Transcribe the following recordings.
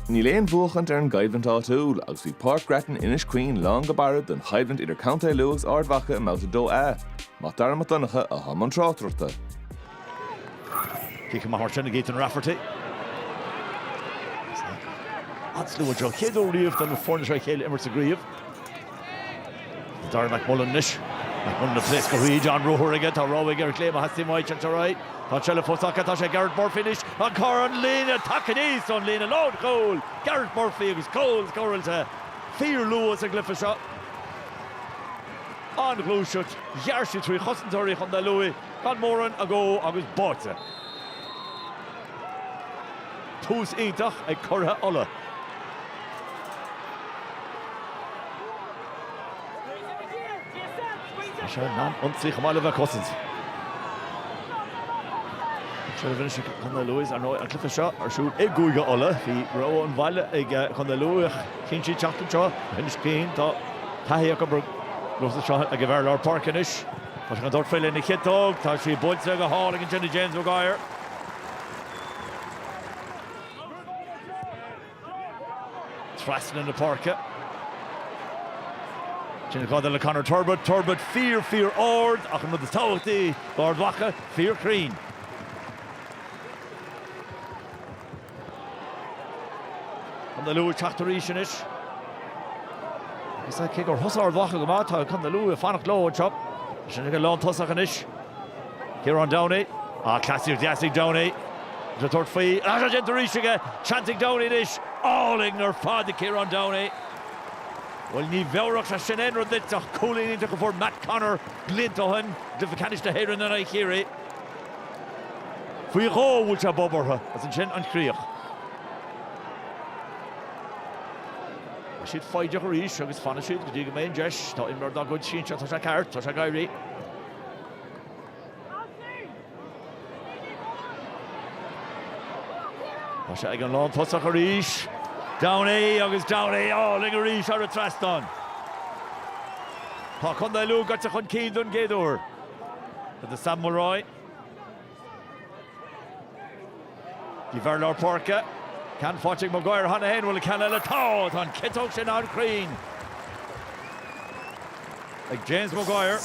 Níl aon bhuachaint ar an gcoimhlint áitiúil agus bhí Páirc Grattan Inis Caoin lán go barra don choimhlint idir Contae Lú agus Ard Mhacha i mBabhta 2A. Mac Dara Mac Donncha atá i mbun tráchtaireachta. Cic amach mar sin ag Ethan Rafferty. An-slua anseo chéad uair riamh do na foirne seo a chéile imirt sa gcraobh. Darragh McMullen anois. McMullen ag pléascadh tríd, an-ruathar aige, tá rogha aige ar chlé má theastaíonn uaidh an t-arae. Tá seilbh fós acu, tá sé ag Gareth Murphy anois, an carr an líne, tagtha aníos ón líne lánchúil! Gareth Murphy agus cúl scóráilte fíorluath sa gcluiche seo. An-ghluaiseacht, ghearr siad trí chosantóirí Chontae Lú gan mórán agó agus báite. Tús iontach ag curaidh Uladh. Tá sé in ann ionsaí chomh maith le bheith ag cosaint. Seo faoin ionsaí Contae Lú, ar ndóigh, an cluiche seo ar siúl i gCúige Uladh. Bhí rogha an bhaile ag Contae Lú ach chinn siad teacht anseo, Inis Caoin. Tá taithí acu ar nós anseo ag an bhfear lár páirce anois. Tá sé chun tabhairt faoi lena chiotóg. Tá sí buailte go hálainn ansin ag James Maguire. Trasna na páirce. Sin Ghada le Conor Turbitt. Turbitt fíor, fíor ard ach an rud is tábhachtaí do Ard Mhacha, fíorchruinn. Contae Lú ag teacht arís anois. Cé gur thosaigh Ard Mhacha go maith tá Contae Lú ag fanacht leo anseo. Sin ag an lántosach anois. Ciarán Downey, Ah, cleasaíocht dheas ag Downey. Tá tabhairt faoi, agus tá déanta arís aige! Seans ag Downey anois. Álainn ar fad ag Ciarán Downey. Bhuel, ní mheabhródh sé sin aon rud duit ach cúilín iontach a fuair Matt Connor blianta ó shin i gcluiche ceannais na hÉireann in aghaidh Chiarraí. Faoi dhó a bhuail sé bob orthu, agus ansin an chríoch. Tá siad foighdeach arís agus fanfaidh siad go dtí go mbeidh an deis. Tá imreoir dá gcuid sínte, tá sé ceart, tá sé ag éirí. Tá sé ag an lántosach arís. Downey agus Downey álainn arís thar an trasnán. Tá Contae Lú gaite chun cinn don gcéad uair. Tá do Sam Mulroy. D'imreoir lár páirce, ceann faighte ag Maguire cheana féin, bhuel, ceann eile atá, tá an chiotóg sin an-chruinn ag James Maguire.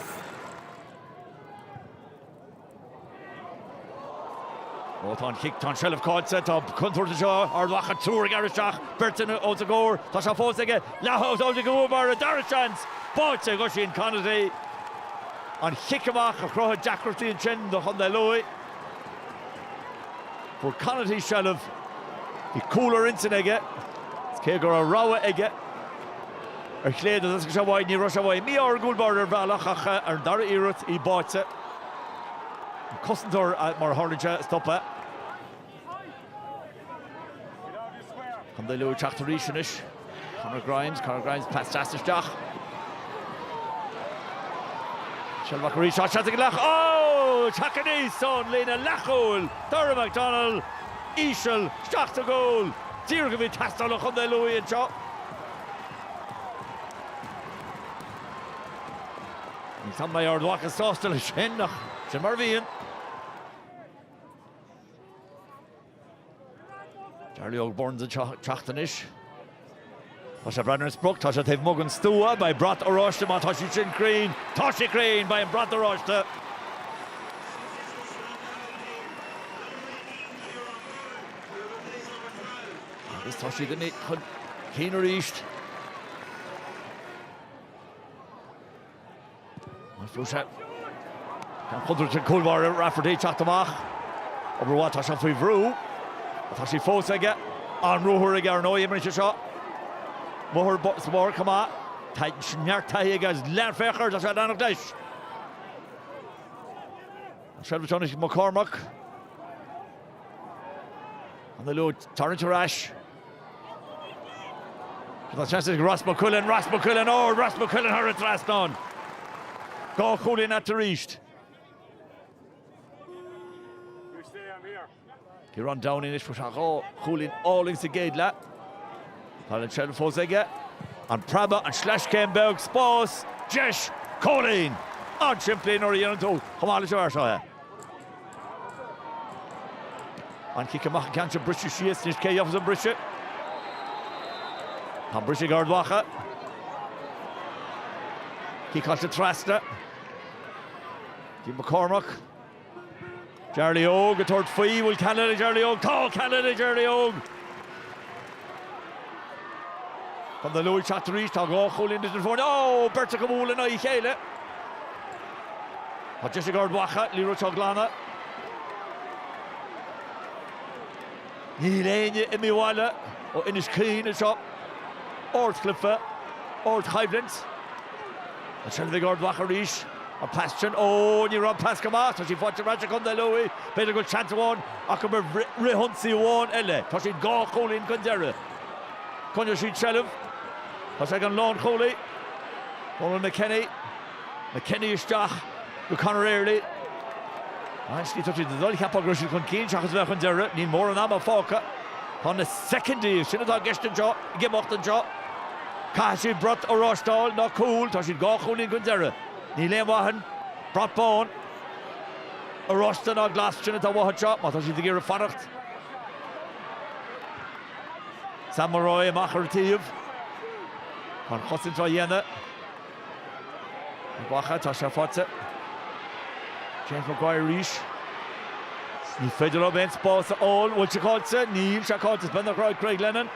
Ó, tá an chic, tá an tseilbh caillte, tá contúirt anseo, Ard Mhacha triúr ag rith isteach, beirt ansin os a gcomhair, tá sé fós aige, leathshábháilte ag an gcúl báire, dara seans, báite, ag Oisín Conaty. An cic amach a chruthaigh deacrachtaí ansin do Chontae Lú. Fuair Conaty seilbh, bhí cúl ar intinn aige agus cé go raibh rogha aige ar chlé de thastaigh sé uaidh, ní raibh sé uaidh. Mí-ádhúil b'fhéidir ar bhealach ach ar an dara iarracht, í báite. An cosantóir, mar a tharlaíonn sé, a stop é. Contae Lú ag teacht arís anois, Conor Grimes, Conor Grimes, pas deas isteach. Seilbh acu arís, ó seans go leith, ag teacht aníos ón líne leathchúil, Dara McDonnell, íseal, isteach sa gcúl, díreach a bhí ag teastáil ó Chontae Lú anseo. Ní dóigh liom go mbeidh Ard Mhacha sásta leis sin ach sin mar a bhíonn. Jarly Óg Burns ag teacht anois. tá sé ag breathnú ar an sprioc, tá sé taobh amuigh den stua, beidh brat oráiste má tá sé sin cruinn, tá siad cruinn, beidh an brat oráiste. Agus tá siad chun cinn arís. An fliuchras. Gan chontúirt an cúl báire Rafferty ag teacht amach. Obair mhaith, tá sé faoi bhrú. Tá sí fós aige. An ruathar aige ar ndóigh imríonn sé seo. amuigh ar an bpáirc chomh maith. Tá neart taithí aige agus féach air, tá sé ag leanacht leis. An seilbh seo anois ag Mac Cormac. An Lú ag tarraingt ar ais. Tá seans ag Ross McQuillan, Ross McQuillan ó, Ross McQuillan thar an trasnán. Dhá chúilín aige arís. Ciarán Downey anois fuair sé dhá chúilín álainn sa gcéad leath. Tá an tseilbh fós aige. An preabadh, an sleaschéim beag, spás, deis, cúilín! An-simplí nuair a dhéanann tú chomh maith leis an bhfear seo é. An cic amach, an ceann seo briste síos, anois cé a gheobhas an briseadh. Tá an briseadh ag Ard Mhacha. Ciceáilte trasna. D'imigh Mac Cormaic. Jarly Óg ag tabhairt faoi, bhfuil ceann eile ag Charlie Óg? Tá ceann eile ag Charlie Óg! Contae Lú ag teacht arís, tá dhá chúilín idir na foirne. Ó! Beirt acu ag bualadh in aghaidh a chéile. Tá deis ag Ard Mhacha an liathróid seo a ghlanadh. Níl éinne ag imeacht abhaile ó Inis Caoin anseo. ardchluiche, ardchoimhlint. An seilbh ag Ard Mhacha arís. An pas sin? Ó, ní raibh an pas go maith. Tá sí faighte ar ais ag Contae Lú. B'fhéidir go bhfuil seans amháin acu ar fhrithionsaí amháin eile. Tá siad dhá chúilín chun deiridh. Coinneoidh siad seilbh. Tá sé ag an lánchúlaí, Dónal McKenny. McKenny isteach go Conor Early. Aisteach, tá siad ag dul, cheapfá, go raibh siad chun cinn seachas a bheith chun deiridh. Níl mórán ama fágtha. Tá na soicindí, sin atá i gceist anseo. ag imeacht anseo. Caithfidh siad brat oráiste a fháil, ná cúl, tá siad dhá chúilín chun deireadh. Níl aon mhaith ann, brat bán, oráiste ná glas, sin atá uathu anseo má tá siad ag iarraidh fanacht. Sam Mulroy amach ar an taobh an chosaint á dhéanamh. Ard Mhacha, Tá sé faighte ag James Maguire arís. Ní féidir leo aon spás a fháil. An bhfuil sé caillte? Níl sé caillte. Is beag nach raibh ag Craig Lennon.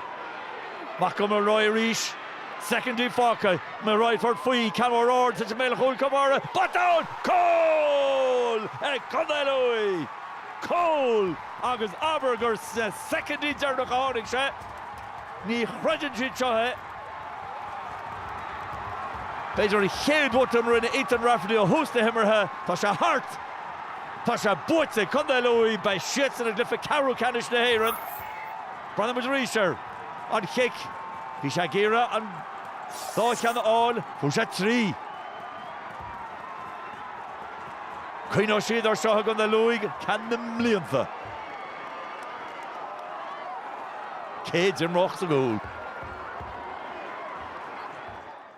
Amach go Mulroy arís. Soicindí fágtha. Mulroy ag tabhairt faoi. Ceann mór ard isteach i mbéal an chúil chomh maith, botún! Cúl ag Contae Lú! Cúl agus abair gur sna soicindí deireanacha a tháinig sé. Ní chreideann siad seo é. B'fhéidir an chéad bhotún a rinne Ethan Rafferty ó thús na himeartha. Tá sé thart! Tá sé buaite ag Contae Lú. Beidh siadsan i gcluiche ceathrú ceannais na hÉireann. Breathnóidh muid arís air. An chic. Bhí sé ag iarraidh an dá cheann a fháil. Fuair sé trí. Cuimhneoidh siad air seo i gContae Lú go ceann na mblianta. Cé d'imreodh sa gcúl?